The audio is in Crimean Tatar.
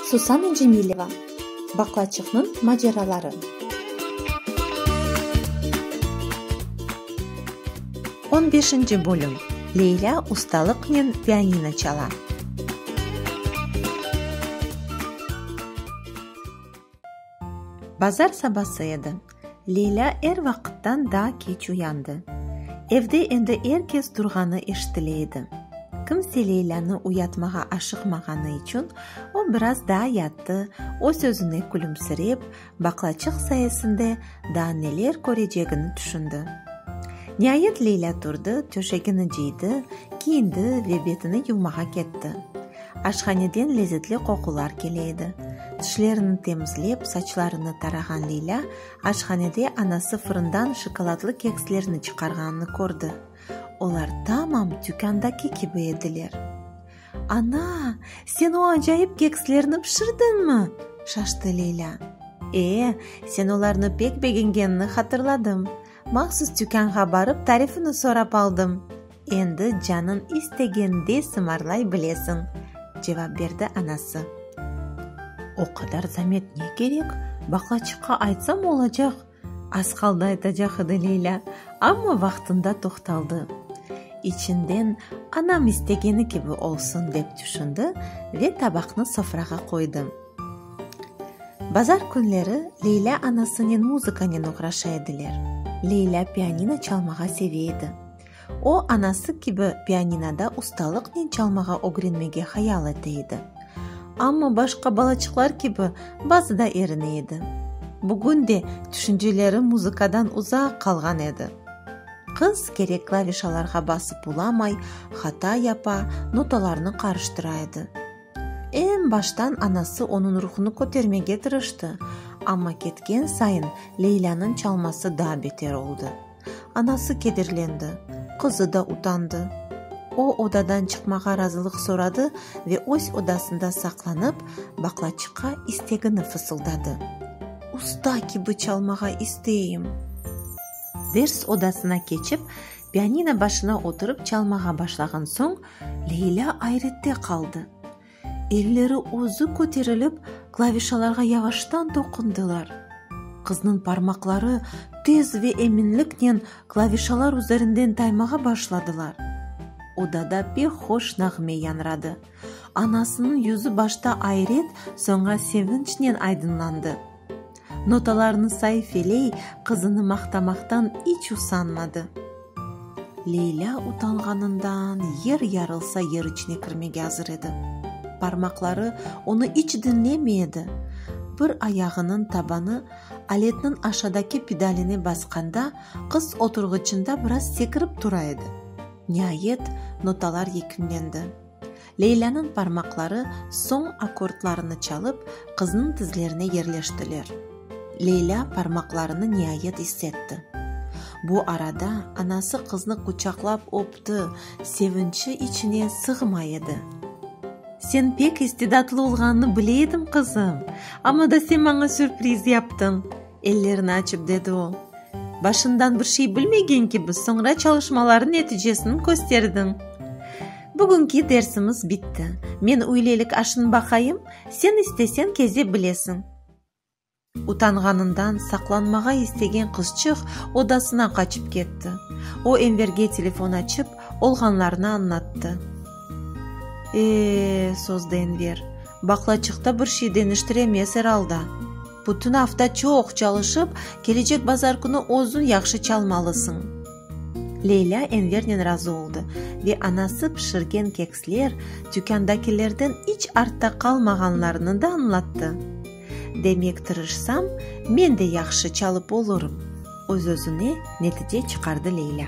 Susana Cemileva, Baklaçıqnıñ maceraları. On beşinci bölüm, Leylâ ustalıqnen pianino çala. Bazar sabası edi. Leylâ er vaqıttan daa keç uyandı. Evde endi er kes turğanı eşitile edi. Kimse Leylânı uyatmağa aşıqmağanı içün o biraz daa yattı, öz-özüne külümsirep, baqlaçıq sayesinde daa neler körecegini tüşündi. Niayet Leylâ turdı, töşegini cıydı, kiyindi ve betini yuvmağa ketti. Aşhaneden lezetli qoqular kele edi. Tişlerini temizlep, saçlarını tarağan Leylâ, aşhanede anası fırından şokoladlı kekslerni çıqarğanını kördi. Olar tamam tükândaki kibi ediler. Ana, sen o acayip kekslerni pişirdiñmi? şaştı Leylâ. E, sen olarnı pek begengenini hatırladım. Mahsus tükânğa barıp tarifini sorap aldım, endi canıñ istegende sımarlay bilesiñ, cevap berdi anası. O qadar zamet ne kerek, baqlaçıqqa aytsam olacaq, az qaldı aytacaq edi Leyla, amma vaqtında toqtaldı. İçinden anam istegeni kibi olsun dep tüşündi ve tabaqnı sofrağa qoydı. Bazar künleri Leyla anasınen muzıkanen oğraşa ediler. Leyla pianino çalmağa seve edi. O, anası kibi, pianinoda ustalıqnen çalmağa ögrenmege hayal ete edi. Amma başqa balaçıqlar kibi, bazı da erine edi. Bugün de tüşünceleri muzıkadan uzaq qalğan edi. Qız kerek klavişalarğa basıp ulamay, hata yapa, notalarnı qarıştıra edi. Eñ baştan anası onıñ ruhunı kötermege tırıştı, amma ketken sayın Leylânıñ çalması daa beter oldı. Anası kederlendi, qızı da utandı. O, odadan çıqmağa razılıq soradı ve öz odasında saqlanıp, baqlaçıqqa istegini fısıldadı. Usta kibi çalmağa isteyim! Ders odasına keçip, pianino başına oturıp çalmağa başlağan soñ, Leylâ ayrette qaldı. Elleri özü köterilip, klavişalarğa yavaştan toqundılar. Qıznıñ parmaqları tez ve eminliknen klavişalar üzerinden taymağa başladılar. Odada pek hoş nağme yañradı. Anasınıñ yüzü başta ayret, soñra sevinçnen aydınlandı. Notalarını sayfeley, qızını maqtamaqtan iç usanmadı. Leylâ utanğanından yer yarılsa yer içine kirmege azır edi. Parmaqları onı iç diñlemey edi. Bir ayağınıñ tabanı aletniñ aşadaki pedaline basqanda, qız oturğıçında biraz sekirip tura edi. Niayet, notalar yekünlendi. Leylânıñ parmaqları soñ akkordlarını çalıp, qıznıñ tizlerine yerleştiler. Leylâ parmaqlarını niayet issetti. Bu arada anası qıznı quçaqlap öpti, sevinçi içine sığmay edi. Sen pek istidatlı olğanını bile edim, qızım, amma da sen maña sürpriz yaptıñ. Ellerini açıp dedi o. Başından bir şey bilmegen kibi, soñra çalışmalarnıñ neticesini kösterdiñ. Bugünki dersimiz bitti. Men üylelik aşını baqayım, sen istesen keze bilesiñ. Utanğanından saqlanmağa istegen qızçıq odasına qaçıp ketti. O Enverge telefon açıp, olğanlarnı añlattı. E-e, sozdı Enver. Baqlaçıqta bir şey deñiştiremez, er alda. Bütün afta çoq çalışıp, kelecek bazar künü özüñ yahşı çalmalısıñ. Leylâ Envernen razı oldı ve anası pişirgen keksler tükândakilerden iç artta qalmağanlarını da añlattı. Demek, tırışsam, men de yahşı çalıp olurım, öz-özüne netije çıqardı Leylâ.